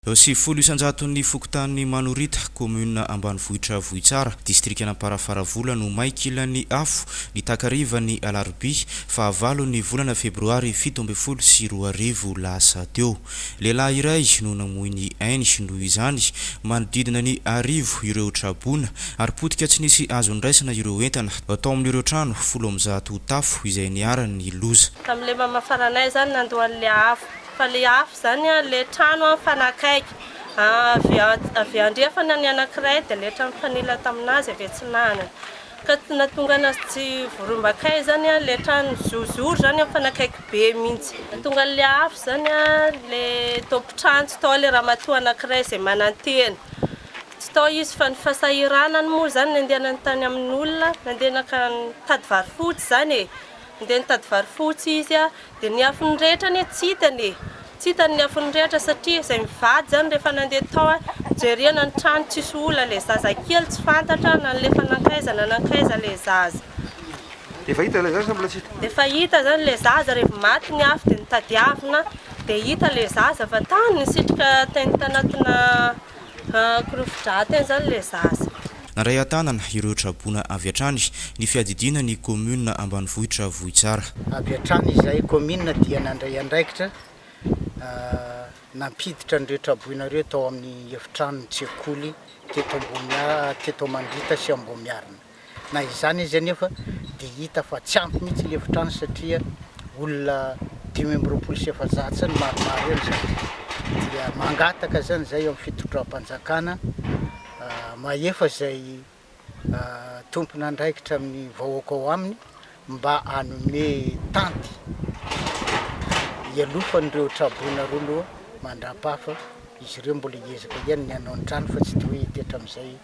Eo sivifolo isan-jaton'ny fokontany Manorita, kaominina ambanivohitra Vohitsara, distrikan'Amparafaravola no may kilan'ny afo ny takariva ny alarobia faha valo ny volana febroary fito ambin'ny folo sy roa arivo lasa teo. Lehilahy iray no namoy ny ainy noho izany. Manodidina ny arivo ireo traboina ary potika tsy nisy azo niraisana ireo entana tao amin'ireo trano folo amby zato tafo izay niharan'ny loza. Tamin'ilay mamafarana ahy izany nandoa an'ilay afo. Fa le afo izany an, le trano an mifanakaiky, avy avy andrefana ny anankiray dia le trano mifanila tamin'azy avy atsinanana, ka tsy nahatonga anazy tsy voarombakay izany an, le trano zozoro izany an mifanakaiky be mihitsy. Nahatonga an'le afo izany an, le tompon-trano tsy tao le ramatoa anankiray izay manantena, tsy tao izy fa ny fahasahiranany moa izany nandehanany tany amin'olona, nandeha naka nitady vary fotsy izany e, Ndeha nitady vary fotsy izy dia ny afony rehetra anie tsy hitany e! Tsy hitany ny afony rehetra satria izay mivady izany rehefa nandeha tao jerena ny trano tsisy olona ilay zaza kely tsy fantatra nalefa nankaiza na nankaiza ilay zaza. Efa hita ilay zaza sa mbola tsy hita? Efa hita izany ilay zaza revy maty ny afo dia nitadiavina dia hita ilay zaza fa tany nisitrika teny tanatina Korofidraty any zany le zaza. Nandray an-tanana ireo traboina avy hatrany ny fiadidiana ny kaominina ambanivohitra Vohitsara. Avy hatrany izahay kaominina dia nandray andraikitra nampiditra an'ireo traboina ireo tao amin'ny efitranon'ny tsekoly teto Ambohimiarina sy Ambohimiarina. Na izany izy anefa dia hita fa tsy ampy mihitsy ny efitrano satria olona dimy amby roapolo sy efajato zany maromaro eo ny zandry dia mangataka zany zay eo amin'ny fitondram-panjakana mahefa izay tompon'andraikitra amin'ny vahoaka ao aminy mba hanome tanty hialofan'ireo traboina roa loha mandrapafa izy ireo mbola hiezaka ihany ny hanao ny trano fa tsy toy hitetra amin'izay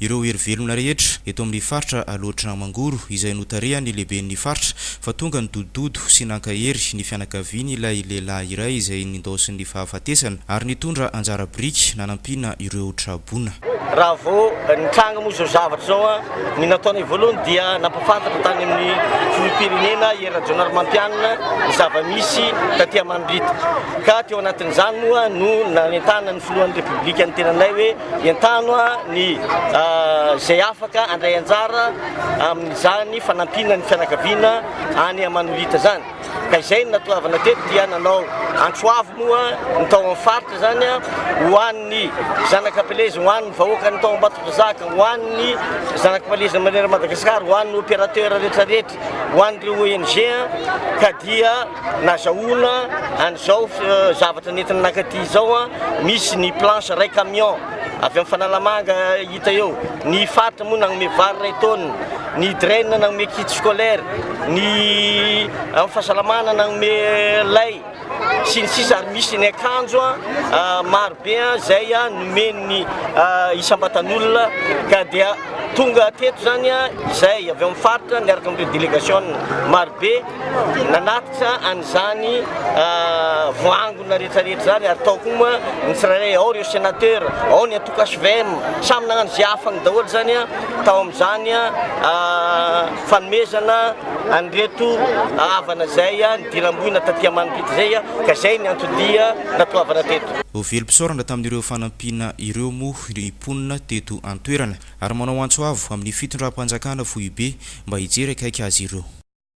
ireo hery velona rehetra eto amin'ny faritra Alaotra Mangoro izay notarihan'ny lehiben'ny faritra fa tonga nidodododo sy nankahery ny fianakavian'ilay lehilahy iray izay nindaosin'ny fahafatesana ary nitondra anjara biriky nanampiana ireo traboina. Raha vao nitranga moa izao zavatra izao, ny nataonay voalohany dia nampahafantatra tany amin'ny filoham-pirenena Hery Rajaonarimampianina ny zava-misy taty Amanirita ka teo anatin'izany moa no nanentanan'ny filohan'ny Repoblika ny tenanay hoe Entano ny izay afaka handray anjara amin'izany fanampiana ny fianakaviana any Manolita izany. Ka izay no natoavana teto dia nanao antroavy moa ny tao amin'ny faritra izany ho an'ny zanak'Ampeleza, ho an'ny vahoakan'ny tao Ambatondrazaka, ho an'ny zanak'Ampeleza manerana an'i Madagasikara, ho an'ny opérateur rehetra rehetra. ho an'ireo ONG ka dia nazahoana an'izao zavatra nentina nakaty izao, misy ny planche iray camion avy amin'ny Fanalamanga hita eo, ny faritra moa nanome vary iray tonne, ny DREN nanome kit scolaire, ny amin'ny fahasalamana nanome lay. sy ny sisa ary misy ny akanjo maro be izay nomen'ny isam-batan'olona ka dia tonga teto izany izay avy amin'ny faritra miaraka amin'ireo délégation maro be nanatitra an'izany voangona rehetrarehetra izany ary tao koa moa ny tsirairay ao ireo sénateur ao ny antoko HVM samy nagnano izay afany daholo izany tao amin'izany fanomezana an'ireto havana izay Diramboina taty amanipito izay ka izay ny anton-dia natoavana teto. Velom-pisaorana tamin'ireo fanampiana ireo moa ny mponina teto an-toerana ary manao antso avo amin'ny fitondram-panjakana foibe mba hijery akaiky azy ireo.